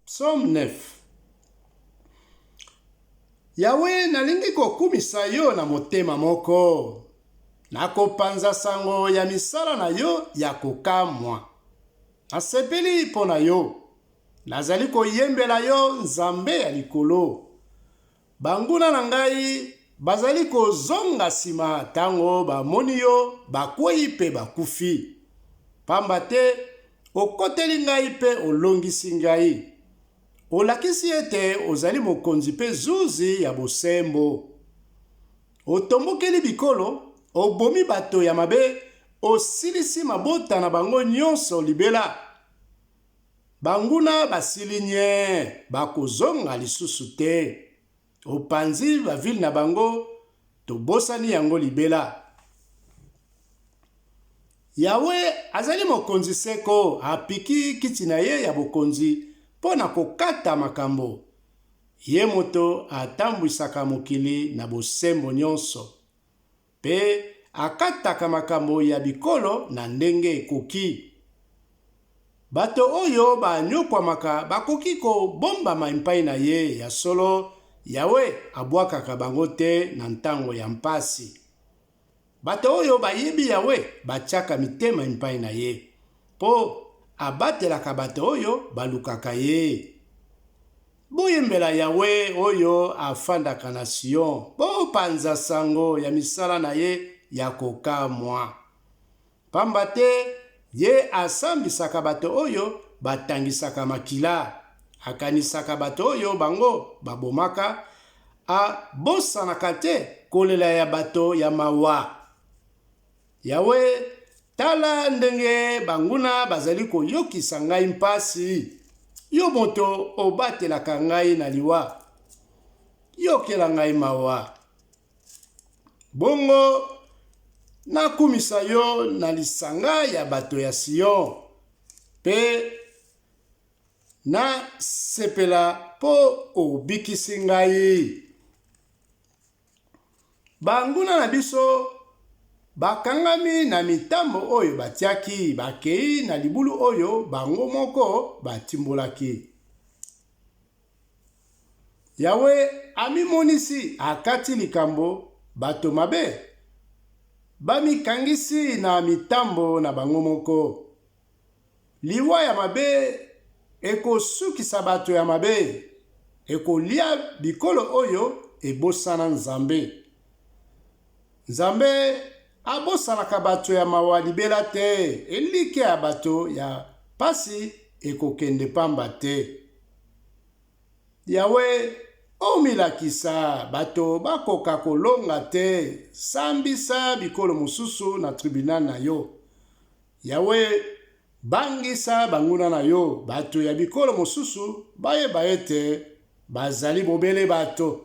Psaume 9 Yawe, nalingi kokumisa yo na motema moko, nakopanza sango ya misala na yo ya kokamwa. Nasepeli mpo na yo, nazali koyembela yo, Nzambe ya likolo. Banguna na ngai bazali kozonga nsima tango bamoni yo, bakweyi mpe bakufi. Pamba te okoteli ngai mpe olongisi ngai, olakisi ete ozali mokonzi mpe zuzi ya bosembo. Otombokeli bikolo, obomi bato ya mabe, osilisi mabota na bango nyonso libela. Banguna basili nyee, bakozonga lisusu te opanzi ba ville na bango tobosani yango libela. Yahwe azali mokonzi seko, apiki kiti na ye ya bokonzi mpo na kokata makambo. Ye moto atambwisaka mokili na bosembo nyonso. Mpe akataka makambo ya bikolo na ndenge ekoki. Bato oyo banyokwamaka bakoki kobombama epai na ye, ya solo, Yawe abwakaka bango te na ntango ya mpasi. Bato oyo bayebi Yawe batyaka mitema epai na ye, mpo abatelaka bato oyo balukaka ye. Boyembela Yawe oyo afandaka na Sion, bopanza sango ya misala na ye ya kokamwa. Pamba te ye asambisaka bato oyo batangisaka makila, akanisaka bato oyo bango babomaka, abosanaka te kolela ya bato ya mawa. Yawe, tala ndenge banguna bazali koyokisa ngai mpasi. Yo moto obatelaka ngai na liwa, yokela ngai mawa. Bongo nakumisa yo na lisanga ya bato ya Sion, mpe nasepela mpo obikisi ngai. Banguna na biso bakangami na mitambo oyo batiaki, bakei na libulu oyo bango moko batimbolaki. Yawe amimonisi, akati likambo bato mabe bamikangisi na mitambo na bango moko. Liwa ya mabe ekosukisa bato ya mabe, ekolia bikolo oyo ebosana Nzambe. Nzambe abosanaka bato ya mawa libela te, elikya ya bato ya pasi ekokende pamba te. Yawe, omilakisa, bato bakoka kolonga te, sambisa bikolo mosusu na tribunal na yo. Yawe, bangisa banguna na yo, bato ya bikolo mosusu bayeba ete bazali bobele bato.